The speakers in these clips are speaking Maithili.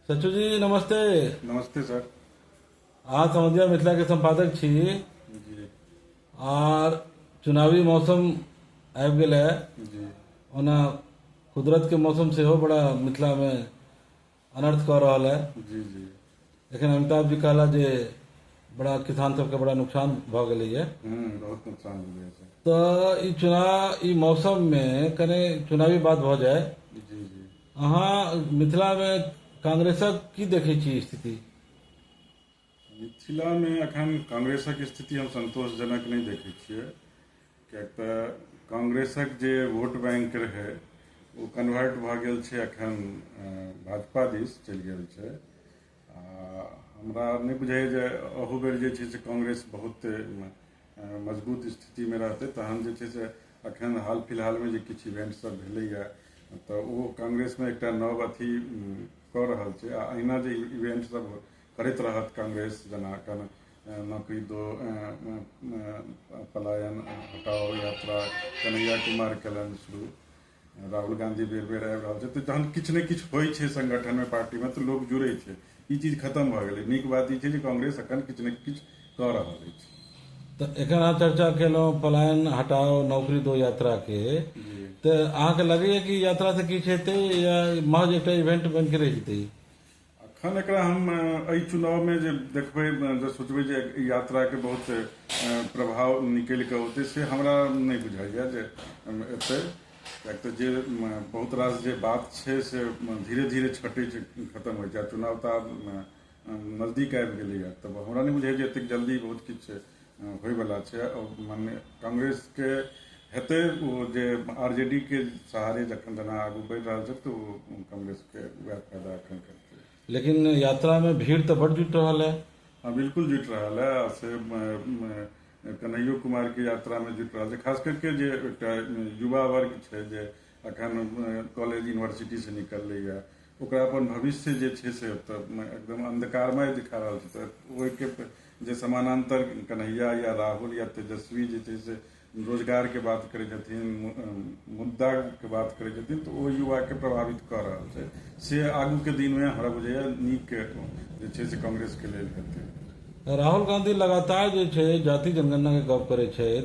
सचू जी नमस्ते नमस्ते सर अहाँ समझिया मिथिला के संपादक छी जी आर चुनावी मौसम आबि गेल है जी ओना कुदरत के मौसम सेहो बड़ा मिथिला में अनर्थ कऽ रहल है जी जी लेकिन अमिताभ जी कहला जे बड़ा किसान सबके बड़ा नुकसान भऽ गेलै है हम्म बहुत नुकसान हो गया सर तऽ ई चुनाव ई मौसम में कने चुनावी बात भऽ जाए जी जी अहाँ मिथिलामे कांग्रेसक की देखै छी स्थिति मिथिलामे एखन कांग्रेसक स्थिति हम सन्तोषजनक नहि देखै छियै किएक तऽ कांग्रेसक जे वोट बैंक रहै ओ कन्वर्ट भऽ गेल छै एखन भाजपा दिस चलि गेल छै हमरा नहि बुझाइए जे अहू बेर जे छै से कांग्रेस बहुत मजबूत स्थितिमे रहतै तहन जे छै से अखन हाल फिलहालमे जे किछु इवेंट सब भेलैए तऽ ओ कांग्रेसमे एकटा नव अथी कऽ रहल छै आ अहिना जे इवेंट सब करैत रहत कांग्रेस जेना एखन नौकरी दो पलायन हटाओ यात्रा कन्हैया कुमार कयलनि शुरू राहुल गांधी बेर बेर आबि रहल छै तऽ जहन किछु ने किछु होइ छै संगठनमे पार्टीमे तऽ लोक जुड़ै छै ई चीज खतम भऽ गेलै नीक बात ई छै जे कांग्रेस अखन किछु ने किछु कऽ रहल अछि तऽ एखन अहाँ चर्चा केलहुँ पलायन हटाओ नौकरी दो यात्रा के तऽ अहाँके लगैया कि यात्रा से किछु हेतै या महज एकटा इवेंट बनि के रहि जेतै अखन एकरा हम एहि चुनाव में जे देखबै जे सोचबै जे यात्रा के बहुत प्रभाव निकलि कऽ औतै से हमरा नहि बुझाइए जे एतै किएक तऽ जे बहुत रास जे बात छै से धीरे धीरे छटै छै खतम होइ छै चुनाव तऽ आब नजदीक आबि गेलैए तऽ हमरा नहि बुझाइए जे एतेक जल्दी बहुत किछु होइवला छै मने कांग्रेसके हेतै ओ जे आर जे डी के सहारे जखन जेना आगू बढ़ि रहल छै तऽ ओ कांग्रेसके वएह फायदा एखन करतै लेकिन यात्रामे भीड़ तऽ बड्ड जुटि रहल है हँ बिल्कुल जुटि रहल है से कन्हैयो कुमारके यात्रामे जुटि रहल छै खास करके जे एकटा युवा वर्ग छै जे अखन कॉलेज यूनिवर्सिटी से निकलले या ओकरा अपन भविष्य जे छै से तऽ एकदम अंधकारमय दिखा रहल छै तऽ ओहिके जे समानांतर कन्हैया या राहुल या तेजस्वी जे छै से रोजगार के बात करै छथिन मु- अम, मुद्दा के बात करै छथिन तऽ ओ युवा के प्रभावित कऽ रहल छै से आगू के दिन में हमरा बुझाइया नीक जे छै से कांग्रेस के लेल हेतै राहुल गांधी लगातार जे छै जाति जनगणना के गप करै छथि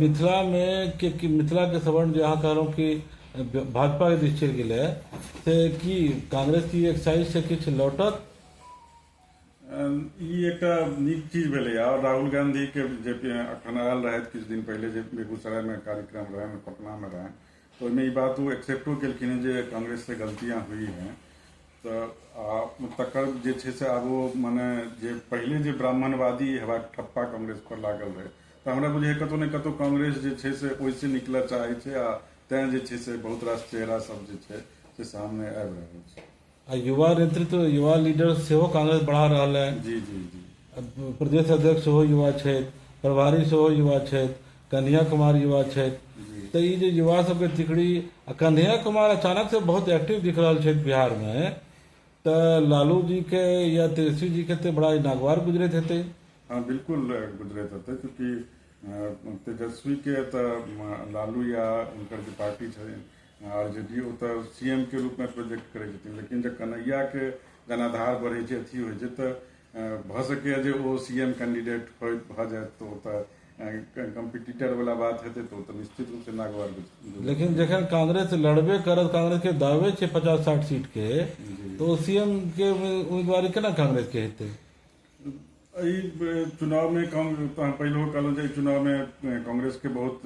मिथिला मे मिथिला के सवर्ण जे अहाँ कहलहुॅं कि भाजपा के दिस चलि गेलै से की कांग्रेस की एक साइड से किछु लौटत ई एकटा नीक चीज भेलै आओर राहुल गांधी के जे अखन आयल रहथि किछु दिन पहिले जे बेगूसराय मे कार्यक्रम रहनि पटना मे रहनि ओहिमे ई बात ओ एक्सेप्टो केलखिन हँ जे कांग्रेस से गलतियाँ हुई हैं तऽ आ तकर जे छै से आब ओ मने जे पहिले जे ब्राह्मणवादी हेबाक ठप्पा कांग्रेस पर लागल रहै तऽ हमरा बुझाइए कतहु ने कतहु कांग्रेस जे छै से ओहिसँ निकलऽ चाहै छै आ तैँ जे छै से बहुत रास चेहरा सब जे छै से सामने आबि रहल छै आ युवा नेतृत्व युवा लीडर सेहो कांग्रेस बढ़ा रहल है जी जी जी अब प्रदेश अध्यक्ष सेहो युवा छथि प्रभारी सेहो युवा छथि कन्हैया कुमार युवा छथि जी तऽ ई जे युवा सबके तिकड़ी आ कन्हैया कुमार अचानक से बहुत एक्टिव दिख रहल छथि बिहार में तऽ लालू जी के या तेजस्वी जी के ते बड़ा ई नागवार गुजरैत हेतै हाँ बिल्कुल गुजरैत हेतै चूँकि अ, तेजस्वी के तऽ म, लालू या हुनकर जे पार्टी छै आओर जदि ओ तऽ सी एम के रूपमे प्रोजेक्ट करै छथिन लेकिन जब कन्हैयाके जनाधार बढ़ै छै अथी होइ छै तऽ भऽ सकैए जे ओ सी एम कैंडिडेट होइ भऽ जाय तऽ ओ तऽ कम्पिटिटर वाला बात हेतै तऽ ओ तऽ निश्चित रूपसँ नागवार लेकिन जखन कांग्रेस लड़बे करत कांग्रेस के दावे छै पचास साठ सीट के तो सीएम के उम्मीदवारी केना कांग्रेस के हेतै एहि चुनावमे पहिलो कहलहुँ जे चुनावमे कांग्रेसके बहुत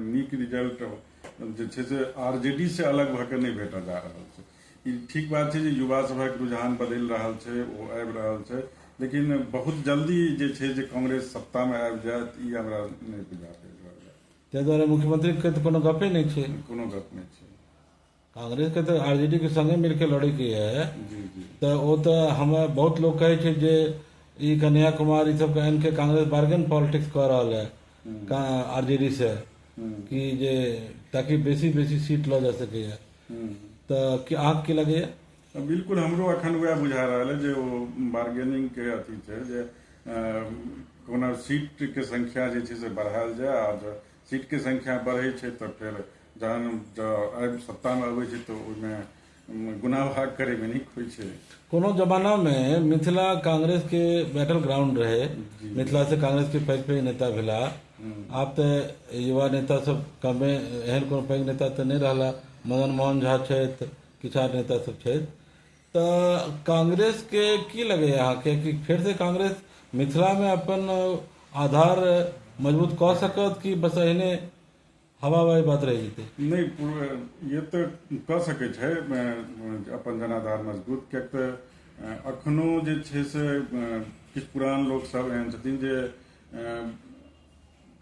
नीक रिजल्ट जे छै से आर जे डी से अलग भऽ कऽ नहि भेटऽ जा रहल छै ई ठीक बात छै जे युवा सभक रुझान बदलि रहल छै ओ आबि रहल छै लेकिन बहुत जल्दी जे छै जे कांग्रेस सत्तामे आबि जायत ई हमरा नहि बुझा पड़ि रहल ताहि दुआरे मुख्यमंत्रीके तऽ कोनो गपे नहि छै कोनो गप नहि छै कांग्रेस के तऽ आरजेडी के संगे मिल के लड़े के है तऽ ओ तऽ हम बहुत लोग कहे छै जे ई कन्हैया कुमार ई सब कहन के कांग्रेस बार्गेन पॉलिटिक्स कर रहल है आरजेडी से कि जे ताकि बेसी बेसी सीट लऽ जा सके है तऽ कि अहाँ की लगे है तऽ बिल्कुल हमरो अखन वएह बुझा रहल है जे ओ बार्गेनिंग के अथी छै जे अ, कोना सीट के संख्या जे छै से बढ़ायल जाय आओर सीटके संख्या बढ़ै छै तऽ फेर जहन जब सत्तामे अबै छै तऽ ओहिमे गुना भाग करैमे नीक होइ छै कोनो जमाना मे मिथिला कांग्रेस के बैटल ग्राउंड रहे मिथिला से कांग्रेस के पैघ पैघ नेता भेला आब तऽ युवा नेता सब कमे एहन कोनो पैघ नेता तऽ नहि रहला मदन मोहन झा छथि किछु आर नेता सब छथि त कांग्रेस के की लगय या अहाँ के की फेर से कांग्रेस मिथिला में अपन आधार मजबूत क सकत की बस अहिने हवाबाजी बात रह जेतै नहीं पूरा- ये तऽ कऽ सकै छै अ, अपन जनाधार मजबूत किएक तऽ अ, अखनो जे छै से अ, किछु पुरान लोक सब एहन छथिन जे अ,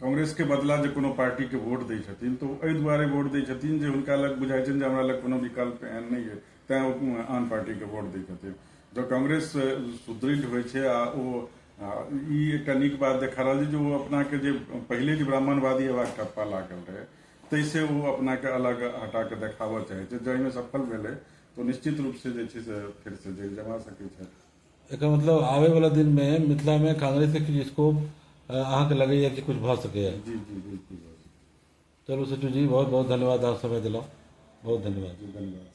कांग्रेस के बदला जे कोनो पार्टी के वोट दै छथिन तऽ ओ एहि दुआरे वोट दै छथिन जे हुनका लग बुझाइ छनि जे हमरा लग कोनो विकल्प एहन नहि अइ तैँ ओ आन पार्टीके वोट दै छथिन जँ कांग्रेस सुदृढ़ होइ छै आ ओ ई एकटा नीक बात देखा रहल छै जे ओ अपनाके जे पहिले जे ब्राह्मणवादी अयबाक ठप्पा लागल रहै ताहिसँ ओ अपनाके अलग हटा कऽ देखाबऽ चाहै छै जाहिमे सफल भेलै तऽ निश्चित रूपसँ जे छै से फेरसँ जरि जमा सकै छथि एकर मतलब आबे वाला दिन में मिथिला में कांग्रेस के किछु स्कोप अहाँके लगैया कि कुछ भऽ सकैया जी जी बिल्कुल चलो सचू जी बहुत बहुत धन्यवाद आप समय दिला बहुत धन्यवाद धन्यवाद